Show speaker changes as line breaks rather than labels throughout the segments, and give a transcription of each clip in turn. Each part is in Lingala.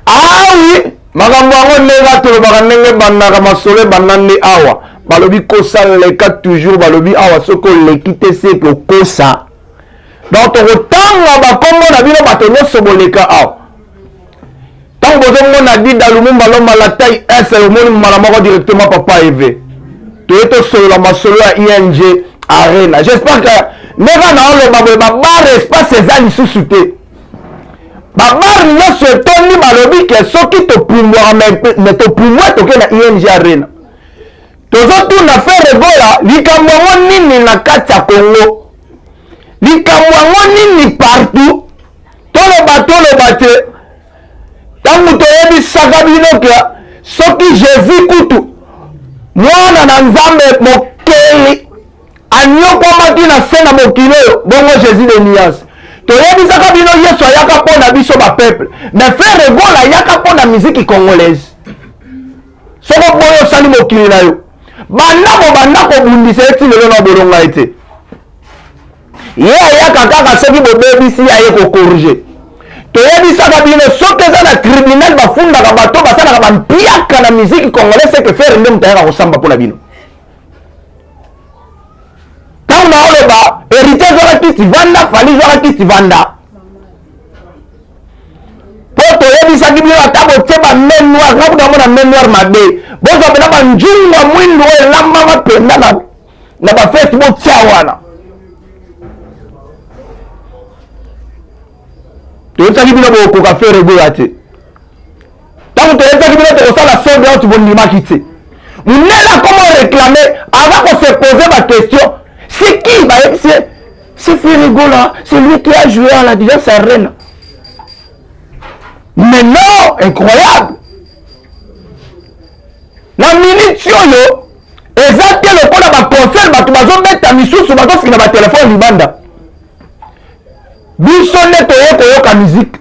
awi ah makambo yango ndenge atolobaka ndenge ebandaka masolo ebanda nde awa balobi kosa leka toujours balobi awa soki oleki te seke okosa donc tokotanga bakombo na bino bato nyonso boleka awa ntango bozomona dida lumumba lomba la taille s omoni mbala moko directement papa eve toye tosolola masolo ya ing arena j'espère que ndenge naoloba boye babare espace eza lisusu te babare nyonso etondi balobi ke soki topumbwaka me topumbwa toke na ing arena tozotuna fere gola likambo yango nini na kati ya congo likambo yango nini partout toloba toloba te ntango toyebisaka bino ke soki jésus kutu mwana na nzambe mokeli anyokwamaki na se na mokili oyo bongo jésus de nuance toyebisaka bino yesu ayaka mpo na biso bapeuple mais frere gola ayaka mpo na miziki congolaise soko boyo osali mokili na yo banda kobanda kobundisa ye ti lelo na bolonga ye te ye ayaka kaka soki bobebisi ye aye kokorige toyebisaka bino soki eza na tribunal bafundaka bato basalaka bampiaka na miziki congolais seke fere nde moto ayaka kosamba mpo na bino ntango naoloba héritier zwaka kiti vanda fali zwaka kiti vanda mpo toyebisaki bino ata botie ba main noire nga kuta mona main noire mabe bozwa mpena banjungwa mwindu oyo elambama mpenza na bafete botia wana toyebisaki bino bokoka fere goya te ntango toyebisaki bino tokosala sonde oyo tobondimaki te munene akoma reklame aza kosepose baquestion c'est qui bayebisi ye c'est ferigola c'est lui qui a joué à la déjà sa reine mais non incroyable na minute oyo eza te lokola baconcert bato bazobeta misusu bazofina batelefone libanda biso nde toye koyoka miziki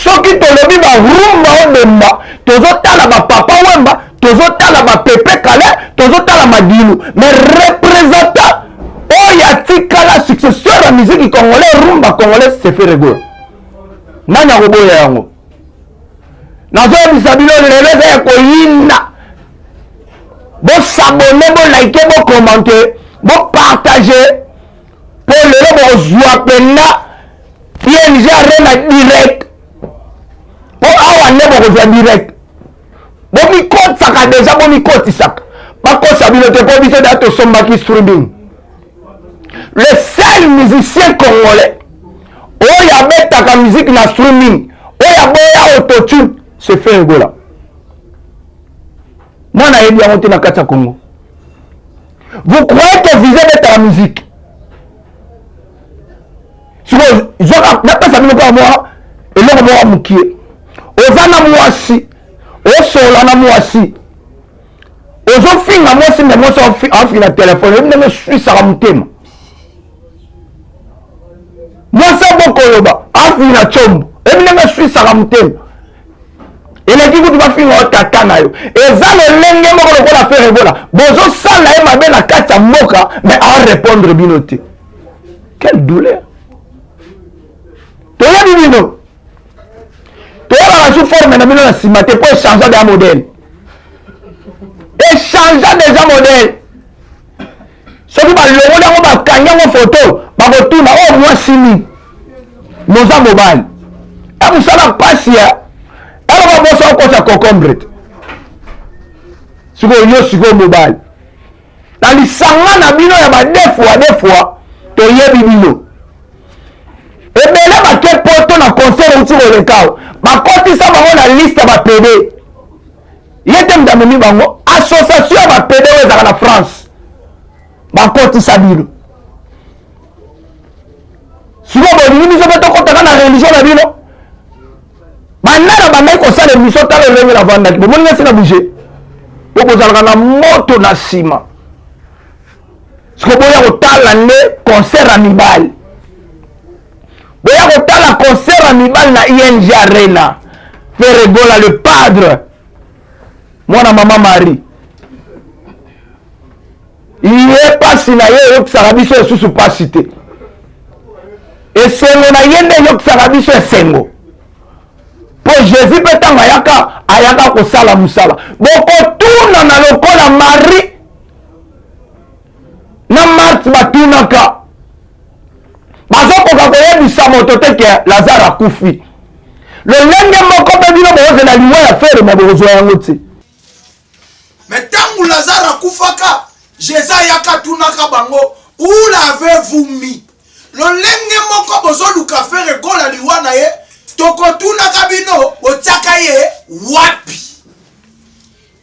soki tolobi barumba obomba tozotala bapapa wemba tozotala bapepe kale tozotala madilu mais représentant oyo atikala successeur ya miziki congolais rumba congolais seferego nani akoboya yango nazoyebisa bino lelo eza ya koyinda bosabone bolaike bokomante bopartage mpo lelo bokozwa mpenza png arena direct mpo awa nde bokozwa direct bomikotisaka deja bomikotisaka bakosa bino te mpo biso da tosombaki streaming le seul musicien congolais oyo abetaka miziki na streaming oyo aboya autotune se fe egola mwana ayebi yango te na kati ya congo vous croyez que visa ebetaka musique sikoyo zwaka napesa bino kaka mwa eloko moko mokie oza na mwasi osola na mwasi ozofinga mwasi me mwasi afinga na telefone oyebi ndenge eswisaka motema mwasi abokoloba afinga na combo oyebi ndenge eswisaka motema eleki kutu bafinga yo tata na yo eza lolenge moko lokola affaire ebola bozosala ye mabe na kati ya mboka mais arepondre bino te quelle douleur toyebi bino toyebaka su forme na bino na nsima te mpo echangea deja modele echangea deja modele soki balongoli yango bakangi yango foto bakotuna oyo oh, mwasi nini noza mobali emusala eh, mpasi ya eloko eh, boso okotya cocombre te sikoyo yo sikoyo mobali na lisanga na bino ya badefua defua toyebi bino ebele bake poto na concert outi kolekao bakotisa bango na liste ya bapede ye te moto amemi bango association ya bapede oyo ezalaka na france bakotisa bino sikoyo bolingi biso mpe tokotaka na religio na bino banda na bandaki kosala emission tala elenge navandaki bomoni nasi na bouge mpo bozalaka na moto na nsima siko boya kotala nde concert ya mibali boya kotala concert ya mibali na ing arena feregola le padre mwana mama marie ye mpasi na ye eyokisaka biso lisusu mpasi te esengo na ye nde eyokisaka biso esengo mpo jésus mpe ntango ayaka ayaka kosala mosala bokotunana lokola marie na marte batunaka bazokoka koyebisa moto te ke lazare akufi lolenge moko mpe bino bokozela liwa ya fere ma bokozwa yango te
me ntango lazare akufaka jesus ayaka atunaka bango ulave vumi lolenge moko bozoluka fere gola liwa na ye tokotunaka bino botyaka ye wapi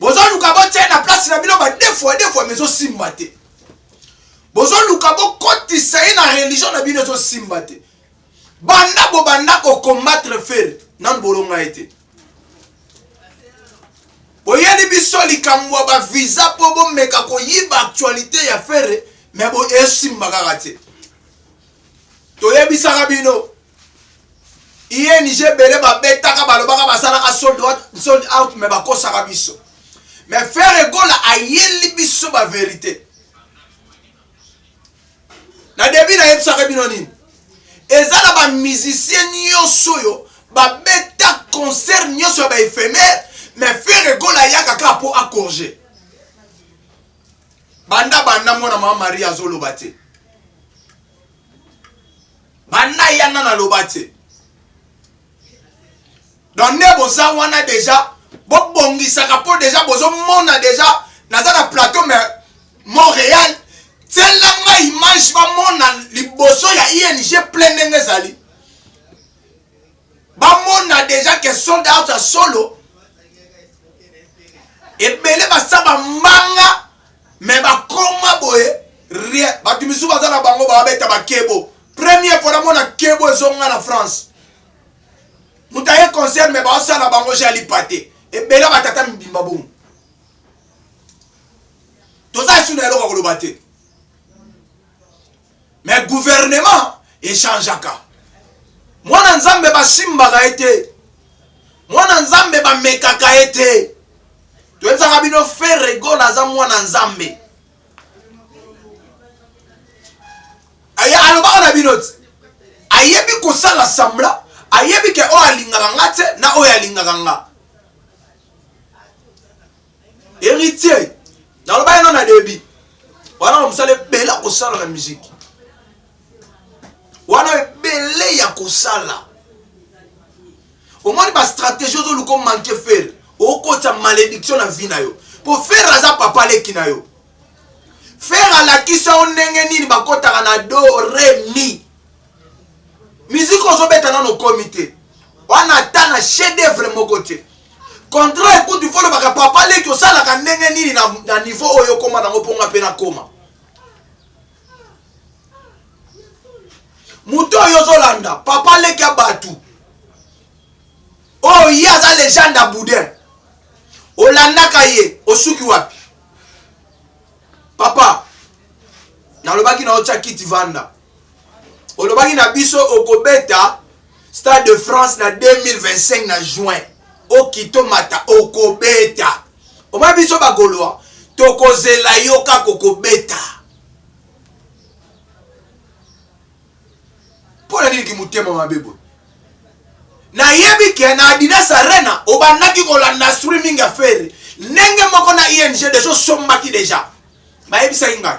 bozoluka botia na place na bino badefu ya defu ama ezosimba te bozoluka bokotisa ye na religion na bino ezosimba te banda bobanda kokombatre fere nanu bolonga ye te boyeli biso likambo ya bavisa mpo bomeka koyiba actualité ya fere me esimba kaka te toyebisaka bino ING ebele babetaka balobaka basalaka sold out, sold out me bakosaka biso me Ferre Gola ayeli biso ba verite na debi nayebisaka bino nini eza na bamusicien nyonso oyo babeta concert nyonso ya baephémère me Ferre Gola ayaka kaka mpo acorge banda banda mwana mama marie azoloba te banda yana naloba te donc nde boza wana deja bobongisaka mpo deja bozomona deja naza na plateau mais montréal tiela nga image bamona liboso ya ing plein ndenge ezali Bamona dejà que sold out ya solo ebele basa ba mbanga mais bakoma boye rien bato misusu baza na bango babeta bakebo premier fois namona kebo ezonga na france moto aye concert mais baosala bango jalipa te ebele batata mibimba bongo toza esu na eloko koloba te Mais gouvernement e changeaka. Mwana Nzambe ba simbaka ye te. Mwana Nzambe ba mekaka ye te. Toyebisaka bino Ferre Gola aza mwana Nzambe. Aye alobaka na bino ti. Ayebi kosala sambla, ayebi ke oyo alingaka nga te na oyo alingaka nga. Heritier, naloba yeno na debut. Wana mosala ebele akosala na miziki. Wana ebele ya kosala. Omoni ba stratégie ozoluka omanke fere. Okotisa malediction na vie na yo. Po fere aza papa leki na yo. Fere alakisa yo ndenge nini bakotaka na do, re, mi. Musique ozo beta nano komi te. Wana ata na chef d'œuvre moko te. Contrat écoute il faut le baka papa leki osalaka ndenge nini na, na niveau oyo koma nango ponga pe na koma. Moto oyo ozolanda papa leki ya batu. Oyo ye aza legende ya boudin. Olandaka ye osuki wapi? Papa nalobaki na otya kiti vanda olobaki na biso okobeta stade de france na 2025 na juin okito mata okobeta omoi biso bagolois tokozela yo kaka okobeta mpo na nini kimotema mabe boye nayebi ke na adidas arena obandaki kolanda streaming ya fere ndenge moko na ing deja osombaki deja bayebisaki ngai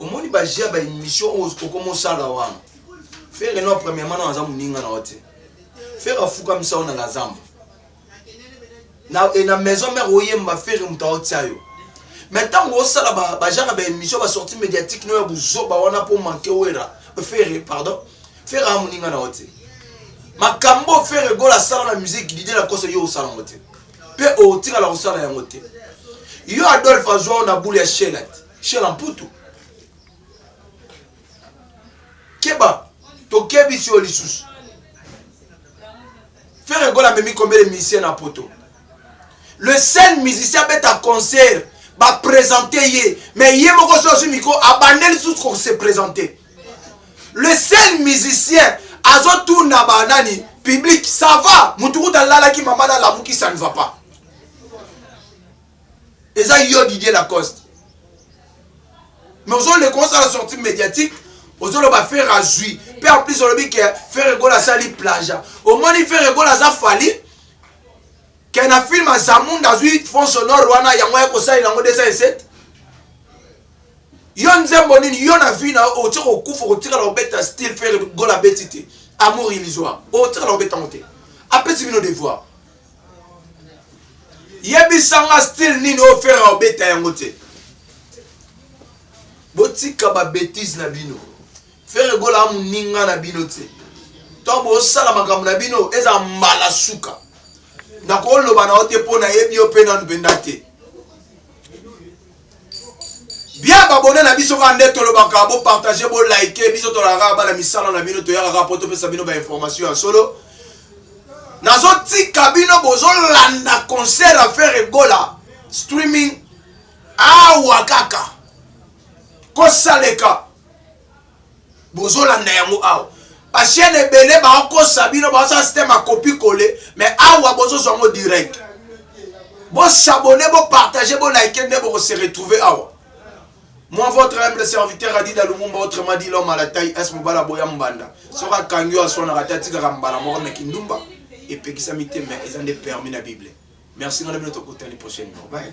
omoni ba jeux ya ba emission oyo okoma osala wana fere no premièrement no aza moninga na yo te fere afukamisa yo na la zamba na, e, na maison mère oyemba fere moto aotia yo mais ntango osala bajaka ba baémission basorti médiatique no ya buzoba wana mpo manke wera fere pardon fere amoninga na yo te makambo fere gola asala na musike didie na koso yo osala yango te Pe okotikala kosala yango te. Yo Adolphe azua yo na boule ya Sheila te. Sheila mputu. Keba, tokebisi yo lisusu. Ferre Gola amemi combien de musiciens na poto? Le seul musicien abeta concert ba présenter ye mais ye moko so azwi micro abandeli lisusu ko se présenter. le seul musicien azotuna banani public ça va mutu kuta alalaki mama nalamuki ça ne va pas eza yo didier lacoste mais ozoleka osala sortie médiatique ozoloba fere azwi mpe en plus olobi ke fere gola asali plaja omoni fere gola aza fali ke na filme azamunda azwi fond sonore wana yango aye kosalela yango 207 Yo nzembo nini yo na vie na yo otie kokufa okotikala kobeta style ferre gola abeti te amour illusoire okotikala kobeta yango te apesi bino devoir yebisa nga style nini oyo ferre aobeta yango te botika babetise na bino ferre gola amoninga na bino te ntango bosala makambo na bino eza mbala suka nakoloba na yo te mpo nayebi yo mpe nanu mpenza te bia babone na biso kaka nde tolobaka bo partage bo like biso tolaka kaka bana misala na bino toyaka kaka mpo topesa bino bainformation ya solo nazotika bino bozolanda concert ya fere gola streaming awa kaka kosaleka bozolanda yango awa ba chaîne ebele baokosa bino baosala système ya copie colle mais awa bozozwa yango direct bosabone bopartage bolike nde bokose retrouve awa moi votre humble serviteur adida lumumba autrement dit l'homme à la taille s mobala boya mbanda soki akangi oyo aswanaka te atikaka mbala moko na kindumba epekisami te mais eza nde permis na bible merci ngai na bino tokutani prochaine bye